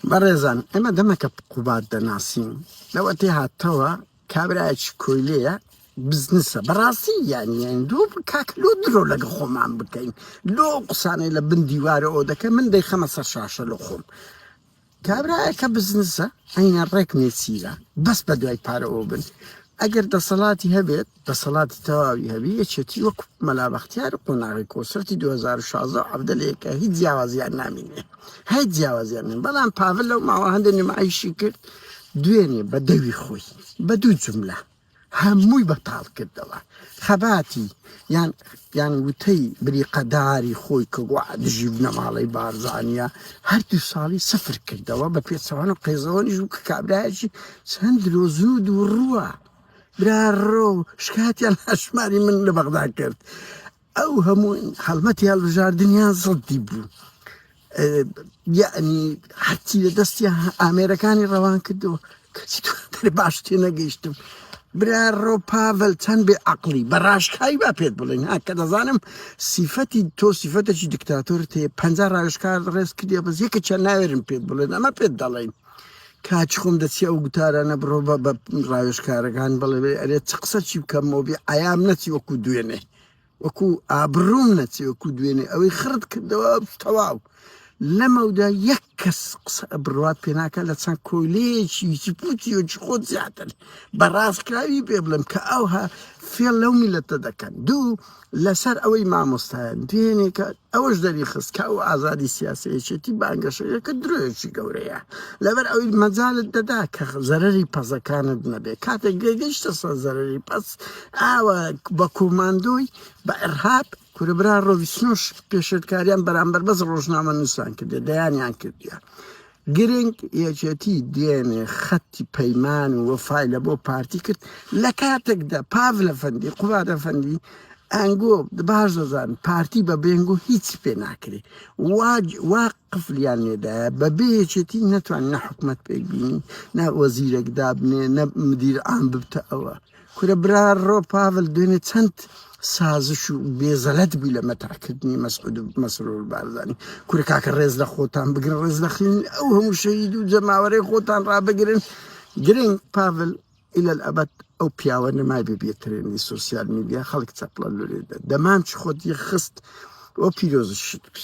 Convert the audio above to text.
بەڕێزان ئێمە دەمەکە قوباد دەناسین لەوە تێ هاتەوە کابراایکی کۆیلەیە بزنسە بەڕاستی یانیان دو کاک لۆ درۆ لەگە خۆمان بکەین لۆ قسانەی لە بن دیوارە ئەو دەکە من دەی خەمە سەر شاشە لە خۆم کابراایەکە بزنسە ئەینە ڕێک نێچیرە بەس بە دوای پارەوە بن ئەگەر دەسەڵاتی هەبێت دەسەڵاتی تەواوی هەبی یەکێتی وەک مەلا بەختیار و قۆناغی کۆسرەتی 2016 و عەبدەلەیەکە هیچ جیاوازیان نامینێ هەی جیاوازیان نین بەڵام پاڤل لەو ماوە هەندێک نمایشی کرد دوێنێ بە دەوی خۆی بە دوو جملە هەمووی بەتاڵ کردەوە خەباتی یان یان وتەی بریقەداری خۆی کە گووا دژی بنەماڵەی بارزانیە هەردوو ساڵی سفر کردەوە بە پێچەوانە قێزەوەنیش و کە کابراایشی چەند درۆزن و دووڕووە برا ڕۆ شکاتیان هەشماری من لە بەغدا کرد ئەو هەموو هەڵمەتی هەڵبژاردنیان زڵدی بوو یعنی هەرچی لە دەستیان ئامێرەکانی ڕەوان کردو کەچی باش تێ نەگەیشتم برا ڕۆ پاڤل چەند بێ عقلی بە ڕاشکایی با پێت بڵێن ها کە دەزانم سیفەتی تۆ سیفەتێکی دکتاتۆر تێ پ ڕاوشکار ڕێز کردی بەس یەکە چەند ناوێرم پێت بڵێن ئەمە پێت دەڵێن کاچ خۆم دەچی ئەو گوتارانە بڕۆ بە بە ڕاوێژکارەکان بڵێ بێ ئەرێ چ قسە چی بکەم مۆبی عیام نەچی وەکو دوێنێ وەکو ئابڕوم نەچی وەکو دوێنێ ئەوەی خڕت کردەوە تەواو لەمەودا یەک کەس قسە بڕات پێناکە لە چەند کۆیلەیەکی پوچی وچ خۆت زیاتر بە ڕاستکراوی پێ بڵم کە ئەوها فێڵ لەو میلەتە دەکەن دوو لەسەر ئەوەی مامۆستایان پێنێکات، ئەوەش دەریخست کە ئەو ئازادی سیاسیە یەکێتی بانگەشەیە کە درۆیەکی گەورەیە، لەبەر ئەوەی مەجالت دەدا کە زەرەری پەزەکانت نەبێت، کاتێک گەگەیشتە سەر زەرەری پەز ئاوا بە کوماندۆی بە ئرهاب کورە برا ڕۆوی سنۆش پێشێلکاریان بەرامبەر بەس ڕۆژنامە نووسان کردێ دەیانیان کردیە. گرنگ، یەکێتی دوێنێ خەتی پەیمان و وەفای لە بۆ پارتی کرد، لە کاتێکدا پاڤل ئەفەندی، قوباد ئەفەندی، ئەنگۆ باش دەزانن پارتی بە بێ ئەنگۆ هیچی پێ ناکرێ، وا وا قفلیان لێدایە، بە بێ یەکێتی نەتوانن نە حکومەت پێک بینن، نە وەزیرێک دابنێن، نە مدیر عام ببتە ئەوە. کورە برا ڕۆ پاڤل دوێنێ چەند سازش و بێزەلەت بووی لە مەترحکردنی مەسعود و مەسرور بارزانی کورە کاکە ڕێز لە خۆتان بگرن ڕێز لە خوێنی ئەو هەموو شەهید و جەماوەرەی خۆتان ڕابگرن گرنگ پاڤل إلى الأبد ئەو پیاوە نەمای ببێترێنی سوسیال میدیا خەڵک چەپڵە لورێدا دەمام چ خۆت یە خست و پیرۆزشت بی